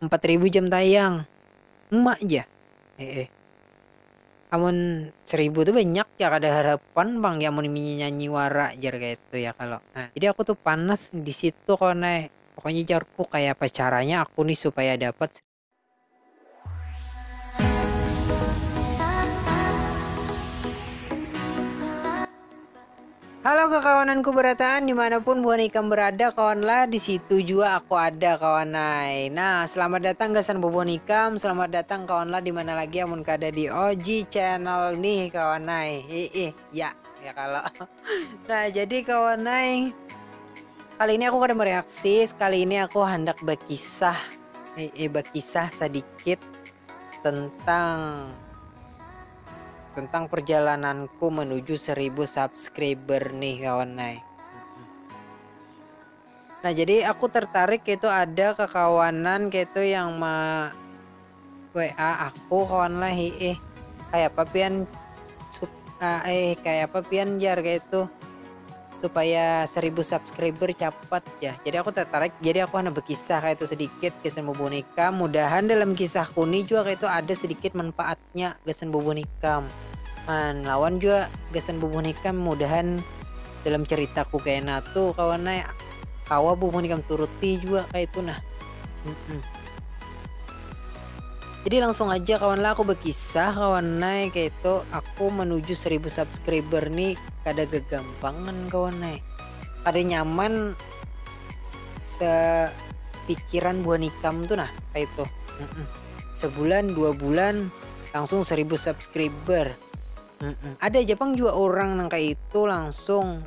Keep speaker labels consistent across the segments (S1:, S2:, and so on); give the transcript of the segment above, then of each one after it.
S1: Empat ribu jam tayang. Uma ja. Hehe. Amun seribu tu banyak ya kada harapan pang ya mun inya nyanyi wara jar kayatu ya kalo. Nah, jadi aku tu panas di situ kawan ai. Pokoknya jarku kayapa caranya aku ni supaya dapat. Halo kakawananku berataan dimanapun buhan ikam berada kawan lah disitu jua aku ada kawan ai nah selamat datang gasan bubuhan ikam selamat datang kawan lah dimana lagi amun kada di OG channel nih kawan ai hiih ya ya kalo nah jadi kawan ai kali ini aku kada mereaksi sekali ini aku handak bakisah Ee bakisah sadikit tentang tentang perjalananku menuju seribu subscriber nih kawan nai. Nah jadi aku tertarik itu ada kekawanan itu yang ma WA aku kawan lah eh kayak apa pian eh kayak apa pian jar kayak itu supaya seribu subscriber capat ja jadi aku tertarik jadi aku hana bekisah kaya itu sedikit gasan bubuh nikam mudahan dalam kisahku ni jua kaya itu ada sedikit manfaatnya gasan bubuh nikam man lawan jua gasan bubuh nikam mudahan dalam ceritaku kena tu kawan ai kawa bubuh nikam turuti jua kaya itu nah mm jadi langsung aja kawan lah aku bekisah kawan ai kaya itu aku menuju seribu subscriber ni kada gagampangan kawan ai kada nyaman sepikiran buhan ikam tu nah kaitu sebulan dua bulan langsung seribu subscriber ada ja pang jua urang nang kaitu langsung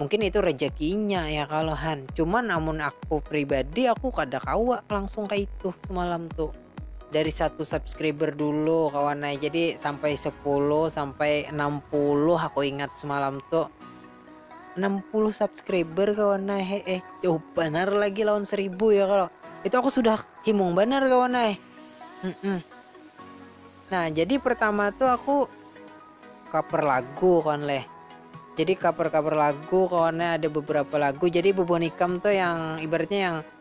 S1: mungkin itu rejakinya ya kalo han cuman amun aku pribadi aku kada kawa langsung kaitu semalam tu. dari satu subscriber dulu kawan nah jadi sampai 10 sampai 60 aku ingat semalam tuh 60 subscriber kawan nah eh, eh jauh benar lagi lawan 1000 ya kalau itu aku sudah himung benar kawan nah eh. Mm -mm. nah jadi pertama tuh aku cover lagu kawan leh jadi cover-cover lagu kawannya ada beberapa lagu jadi bubun ikam tuh yang ibaratnya yang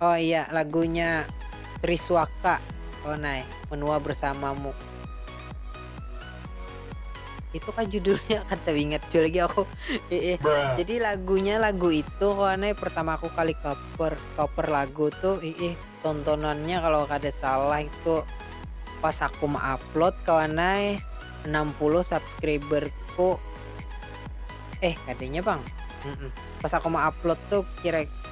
S1: Oh iya lagunya Risuaka oh nai menua bersamamu itu kah judulnya kada ingat jua lagi aku iih jadi lagunya lagu itu kawan ai pertama aku kali cover cover lagu tu iih tontonannya kalo kada salah itu pas aku ma upload kawan ai enam puluh subscriberku eh kadanya pang pas aku ma upload tu kira.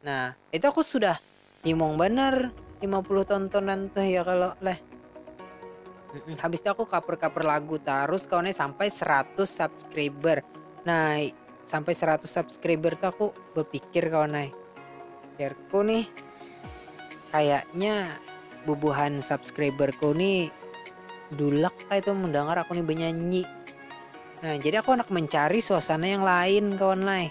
S1: Nah, itu aku sudah nimung banar 50 tontonan tuh ya kalau leh. Habis itu aku cover-cover lagu terus kawannya sampai 100 subscriber. Nah, sampai 100 subscriber tuh aku berpikir kawannya. Pikirku nih kayaknya bubuhan subscriberku nih dulak kayak itu mendengar aku nih bernyanyi. Nah, jadi aku anak mencari suasana yang lain kawan lain.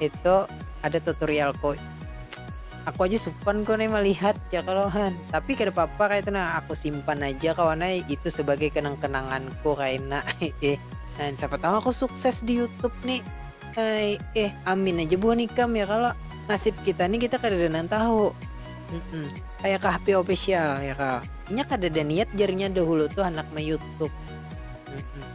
S1: itu ada tutorial kok aku aja supan kok nih melihat ya kalau han tapi kada apa-apa kayak itu nah aku simpan aja kawan eh. itu sebagai kenang-kenanganku Raina eh dan siapa tahu aku sukses di YouTube nih Hai, eh amin aja buah nikam ya kalau nasib kita nih kita kada ada tahu mm -mm. kayak kahpi official ya kalau ini kada ada niat jarinya dahulu tuh anak me YouTube mm -mm.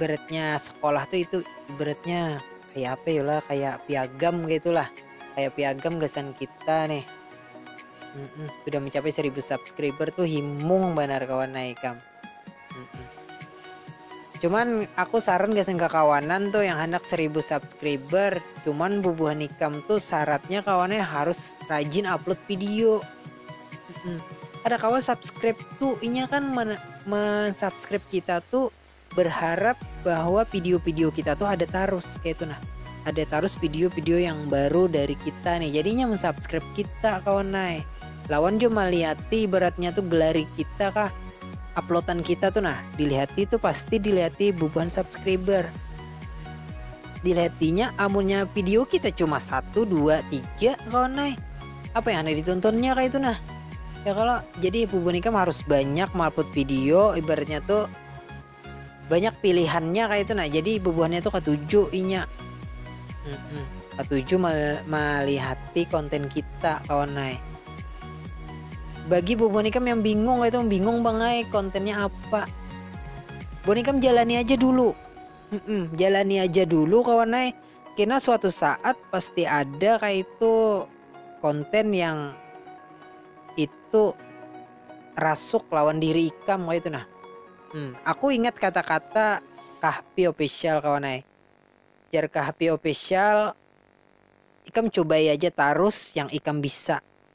S1: ibaratnya sekolah tuh itu ibaratnya kayak apa ya lah kayak piagam gitulah kayak piagam gasan kita nih mm -mm. sudah mencapai 1000 subscriber tuh himung banar kawan naikam mm -mm. cuman aku saran gasan kekawanan tuh yang hendak 1000 subscriber cuman bubuhan ikam tuh syaratnya kawannya harus rajin upload video Kada kawa subscribe tu inya kan men subscribe kita tu berharap bahwa video video kita tu ada tarus kaitu nah ada tarus video video yang baru dari kita nih jadi inya men subscribe kita kawan ai lawan jua malihati ibaratnya tu gelari kita kah uploadan kita tu nah dilihati tu pasti dilihati bubuhan subscriber dilihatinya amunnya video kita cuma satu dua tiga kawan ai. Apa yang handak ditontonnya kayak itu nah? Ya kalau jadi hubungan ikam harus banyak malput video ibaratnya tuh banyak pilihannya kayak itu nah jadi bubuhannya tuh ketujuh inya ketujuh mal malihati konten kita kawan naik bagi bu bonikam yang bingung itu bingung bangai kontennya apa bonikam jalani aja dulu mm -mm, jalani aja dulu kawan naik kena suatu saat pasti ada kaitu konten yang itu rasuk lawan diri ikam kaitu nah. Hmm, aku ingat kata-kata Kahpi Official kawan ai. Jar Kahpi Official, ikam cubai aja tarus yang ikam bisa.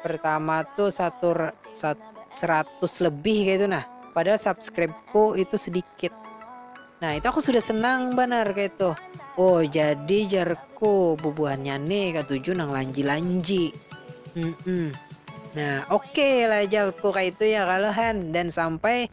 S1: pertama tuh satu sat, seratus lebih kayak itu nah padahal subscribeku itu sedikit nah itu aku sudah senang benar kayak itu oh jadi jarku bubuhannya nih katuju nang lanji-lanji mm -mm. nah oke okay lah jarku kayak itu ya kalahan dan sampai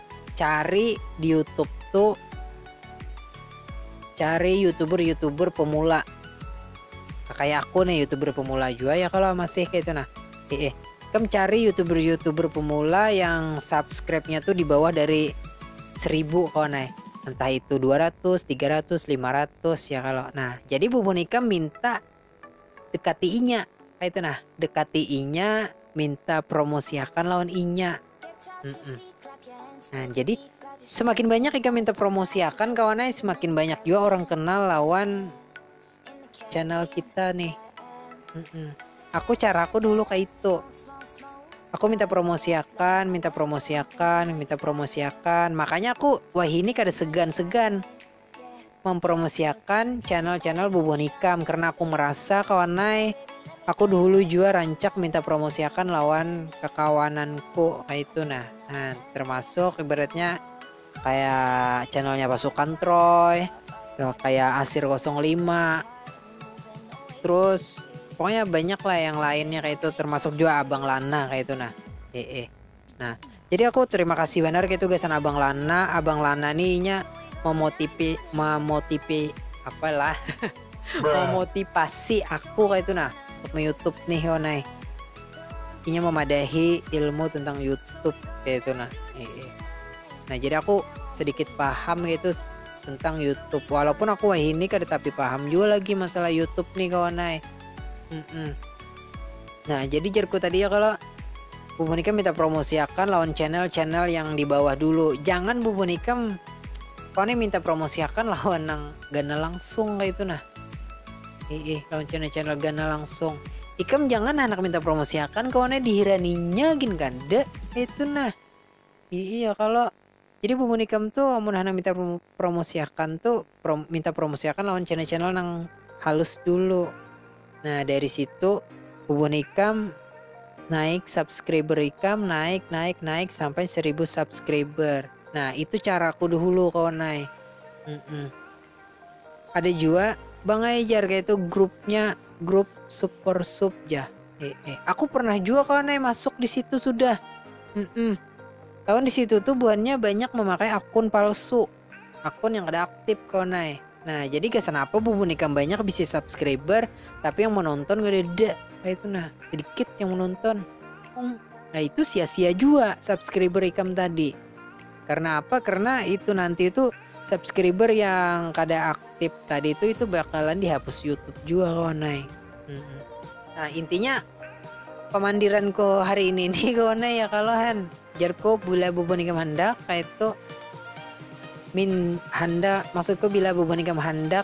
S1: Cari di youtube tu cari youtuber youtuber pemula kaya aku nih youtuber pemula jua ya kalo masih kaya itu nah eh kam cari youtuber youtuber pemula yang subscribe nya tuh di bawah dari seribu kawan eh entah itu 200, 300, 500 ya kalau nah jadi bubun ikam minta Dekati inya, kaitu nah. Dekati inya, minta promosiakan lawan inya. Mm-mm. Nah, jadi semakin banyak ikam minta promosiakan kawan ai, semakin banyak juga orang kenal lawan channel kita nih. Mm-mm. Aku caraku dulu kayak itu. Aku minta promosiakan, minta promosiakan, minta promosiakan. Makanya aku wah ini kada segan-segan Mempromosiakan channel channel bubuhan ikam karena aku merasa kawan ai aku duhulu jua rancak minta promosiakan lawan kakawananku kaitu nah nah termasuk ibaratnya kaya channelnya pasukan troy kaya asir kosong lima terus pokoknya banyak lah yang lainnya kaitu termasuk jua abang lana kaitu nah hehe. Nah, jadi aku terima kasih benar gitu gasan Abang Lana. Abang Lana nih inya memotipi memotipi apalah memotivasi aku kayak itu nah untuk YouTube nih Yonai. Inya memadahi ilmu tentang YouTube kayak itu nah. Nah, jadi aku sedikit paham gitu tentang YouTube. Walaupun aku wahini kada tapi paham juga lagi masalah YouTube nih kawan Nah, jadi jerku tadi ya kalau Bu Monika minta promosiakan lawan channel-channel yang di bawah dulu. Jangan Bu Monika kau nih minta promosiakan lawan nang gana langsung kayak itu nah. Ih, lawan channel-channel gana langsung. Ikam jangan anak minta promosiakan kau nih dihiraninya gin kada itu nah. Ih, ya kalau Jadi bumbun ikam tu amun handak minta promosiakan tu minta promosiakan lawan channel-channel nang halus dulu. Nah dari situ bumbun ikam naik subscriber ikam naik naik naik sampai seribu subscriber. Nah itu caraku dahulu kawan ai. Mm -mm. Ada jua bang ai jar kaitu grupnya grup supersup jah ee aku pernah jua kawan ai masuk disitu sudah mm kawan disitu tuh buhannya banyak memakai akun palsu akun yang kada aktip kawan ai nah jadi gasan apa bubun ikam banyak bisi subscriber tapi yang menonton kadada kaitu nah sedikit yang menonton nah itu sia-sia jua subscriber ikam tadi Karena apa? Karena itu nanti itu subscriber yang kada aktif tadi itu itu bakalan dihapus YouTube jua kawan ai. Hmm. Nah, intinya pamandiranku hari ini nih kawan ai ya kalau han. Jarku bila bubun ikam handak kaitu min handak maksudku bila bubun ikam handak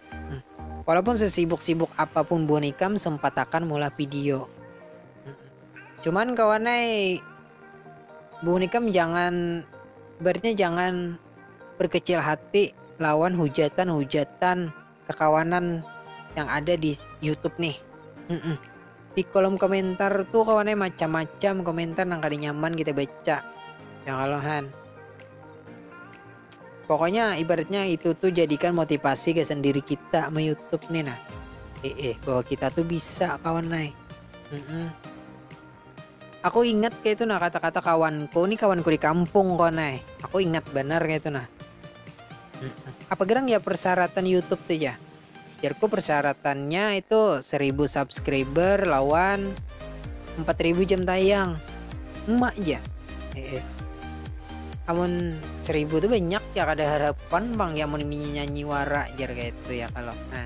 S1: Walaupun sesibuk-sibuk apapun buhan ikam sempatakan meulah video. Cuman kawan ai buhan ikam jangan ibaratnya jangan berkecil hati lawan hujatan-hujatan kekawanan yang ada di YouTube nih. Di kolom komentar tuh kawan ai macam-macam komentar nang kada nyaman kita baca. Ya kalo han. Pokoknya ibaratnya itu tuh jadikan motivasi gasan diri kita me YouTube nih nah. Eh, eh bahwa kita tuh bisa kawan nai. Mm -mm. Aku ingat kayak itu nah kata-kata kawanku nih kawanku di kampung kawan nai. Aku ingat benar kayak itu nah. Apa gerang ya persyaratan YouTube tuh ya? Jarku persyaratannya itu seribu subscriber lawan empat ribu jam tayang. Emak ja. Hehe. Amun seribu tu banyak ya kada harapan pang ya mun inya nyanyi wara jar kaitu ya kalo. Nah.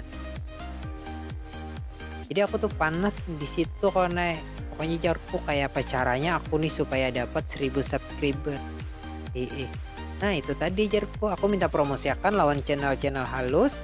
S1: Jadi aku tu panas di situ kawan ai. Pokoknya jarku kayapa caranya aku nih supaya dapat seribu subscriber. Hehe. Nah itu tadi jarku aku minta promosiakan lawan channel-channel halus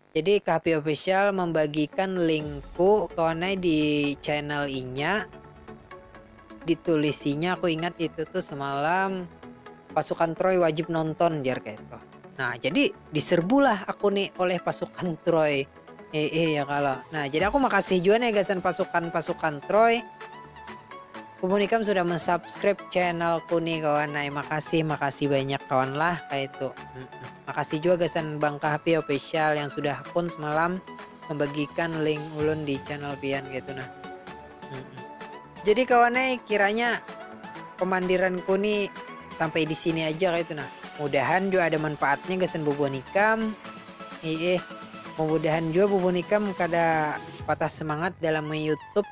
S1: Jadi Kahpi Official membagikan linkku kawan ai di channel inya ditulisinya aku ingat itu tuh semalam pasukan Troy wajib nonton jar kayak itu. Nah jadi diserbulah aku nih oleh pasukan Troy. Eh, eh ya kalau. Nah jadi aku makasih juga nih gasan pasukan-pasukan Troy Kumun ikam sudah mensubscribe channelku nih kawan ai makasih makasih banyak kawan lah kaitu makasih jua gasan bangka happy official yang sudah pun semalam membagikan link ulun di channel pian kaitu nah jadi kawan ai kiranya pemandiranku nih sampai di sini aja kaitu nah mudahan jua ada manfaatnya gasan bubuhan ikam iih mudahan jua bubuhan ikam kada patah semangat dalam me youtube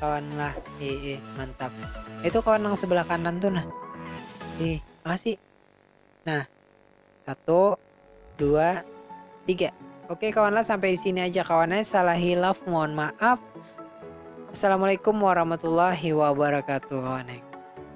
S1: kawan lah ii mantap itu kawan nang sebelah kanan tuh nah ih makasih nah satu dua tiga oke kawan lah sampai di sini aja kawannya salah hilaf mohon maaf assalamualaikum warahmatullahi wabarakatuh kawan